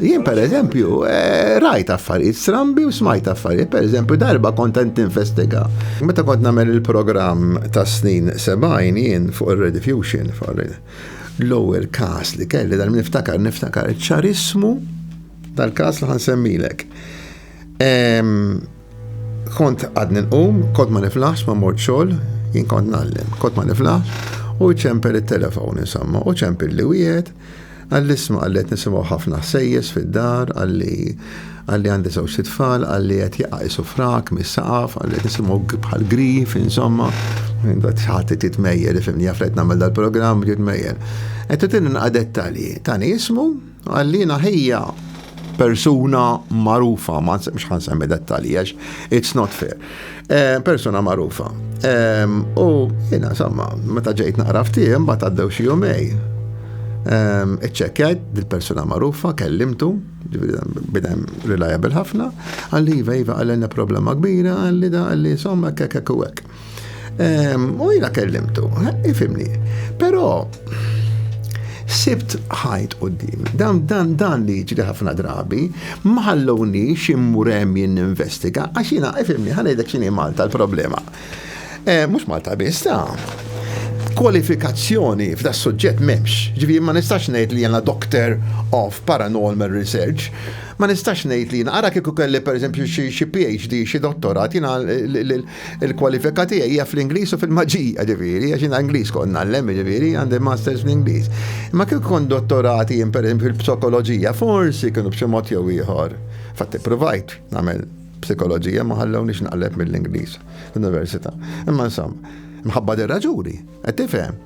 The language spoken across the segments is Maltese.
Jien per eżempju, eh, rajt affarijiet strambi u smajt affarijiet, per eżempju, darba kontent investiga. Meta kont nagħmel il-programm ta' snin 70 jien fuq ir-rediffusion, l-ewwel każ li kelli dan niftakar niftakar ċarismu tal-każ li ħansemmilek. Kont għadni nqum, kont ma niflaħx ma mort xogħol, jien kont nallem, kont ma niflaħx, u ċempel it-telefon insomma, u ċempel li wieħed, għall-isma għallet nisimgħu ħafna sejjes fid-dar, għalli għalli għandi żewġ tfal, għalli qed jaqqisu frak mis-saqaf, għalli qed nisimgħu bħal grif, insomma, ħadd qed li fimni jaflet nagħmel dal-programm, jitmejjel. Qed titinna dettalji, tani jismu, Għalina hija persuna marufa, ma mhux ħan semmi dettali, għax it's not fair. Eh, persuna marufa. Ehm, u jina, insomma, meta ġejt naqra ftijem, bat għaddew xi jumej. Ehm, iċċekkjajt dil-persuna marufa, kellimtu, bidem reliable ħafna, għalli iva iva għalli problema kbira, għalli da għalli insomma kekek u għek. U jina kellimtu, ifimni. Pero, sibt ħajt u d-dim. Dan, dan, dan li ġri ħafna drabi, maħalloni ximmurem jinn investiga, għax jina, ifimni, ħanajdek xini Malta l-problema. Eh, Mux Malta biss, ta' kwalifikazzjoni f'da suġġett memx. Ġivi, ma nistax nejt li jena doctor of paranormal research, ma nistax nejt li jena, għara kiku kelli per eżempju xie PhD, xie dottorat, jena Il-kwalifika tiegħi hija fl-Ingliż u fil-maġija, ġifieri, għax jiena Ingliż kont ngħallem, ġifieri, għandi masters fl-Ingliż. Imma kif kont dottorati jien pereżempju fil-psikoloġija, forsi kienu b'xi mod jew ieħor. Fatt ippruvajt nagħmel psikoloġija ma ħallewniex naqleb mill-Ingliż fl-università. Imma insomma, mħabba dir-raġuni, qed tifhem.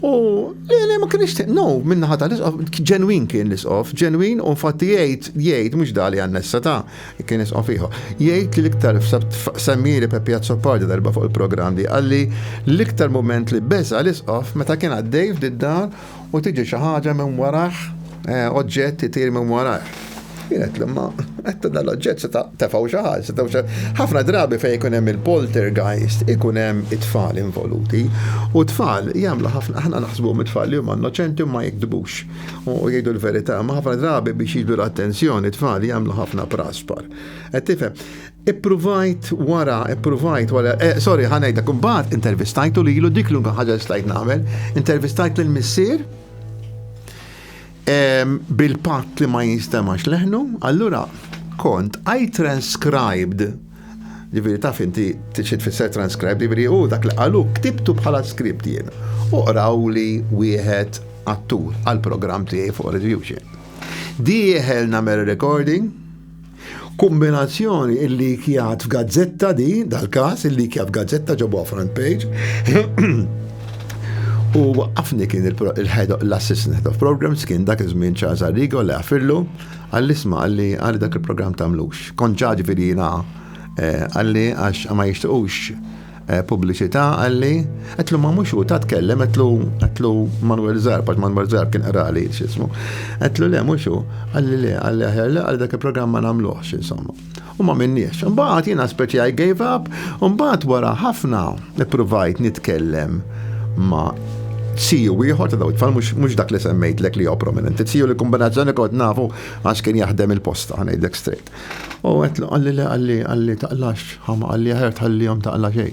U le, le, ma kienx te- no, minna ħata l-isqof, ġenwin kien l-isqof, ġenwin u fatti jgħid, jgħid, mux dali għannessa ta' kien isqof iħo. Jgħid li l-iktar semmili Peppi Azzopardi darba fuq il-program di, għalli l-iktar moment li beza l-isqof meta kien għaddej f'did-dar u tiġi xi ħaġa minn waraħ, eh, oġġett itir minn waraħ. Kienet li ma għetta dal-oġġett seta' tefaw xaħal, seta' ħafna drabi fej ikun hemm il-poltergeist, ikun hemm it-tfal involuti. U tfal jagħmlu ħafna aħna naħsbu mit-tfal li huma innoċenti ma jikdbux u jgħidu l-verità, ma ħafna drabi biex jiġu l-attenzjoni tfal jagħmlu ħafna praspar. Qed tifhem? Ippruvajt wara, ippruvajt wara, eh, sorry, ħanajda, kumbat intervistajtu li ilu dik l-unka ħaġa stajt nagħmel, intervistajt l-missier, bil-patt li ma jinstemax leħnu, allura kont I transcribed Ġifiri taf inti t-xit fisser transcribe, ġifiri u dak li għalu ktibtu bħala skript jien. U qraw li wieħed attur għal-program tiegħi fuq Retribution. Dieħel namer recording, Kombinazzjoni il-likjat f'gazzetta di, dal-każ il-likjat f'gazzetta ġabuha front page. U waqqafni kien l-assistant head of programs kien dak iż-żmien Charles Arrigo li għafillu għall-isma għalli għalli dak il-programm tagħmlux. Kont ġaġi fil-jina eh, għalli għax ma jixtiqux pubbliċità qalli, għedtlu ma mhux hu ta' tkellem għedtlu għedtlu Manuel Zarb għax Manuel Zarb kien qrali x'ismu. Għedtlu le mhux hu, qalli le, qalli aħjar le għal dak il-programm ma nagħmluhx insomma. U ma minniex. Imbagħad jiena speċi I gave up, u mbagħad wara ħafna ippruvajt nitkellem ma' siju ieħor ta' daw it-tfal mhux dak li semmejtlek li jew prominenti. Siju li kombinazzjoni kont nafu għax kien jaħdem il-posta, ngħidlek straight. U għetlu għalli le għalli għalli taqlax ħama għalli għajar tħallijom taqla xej.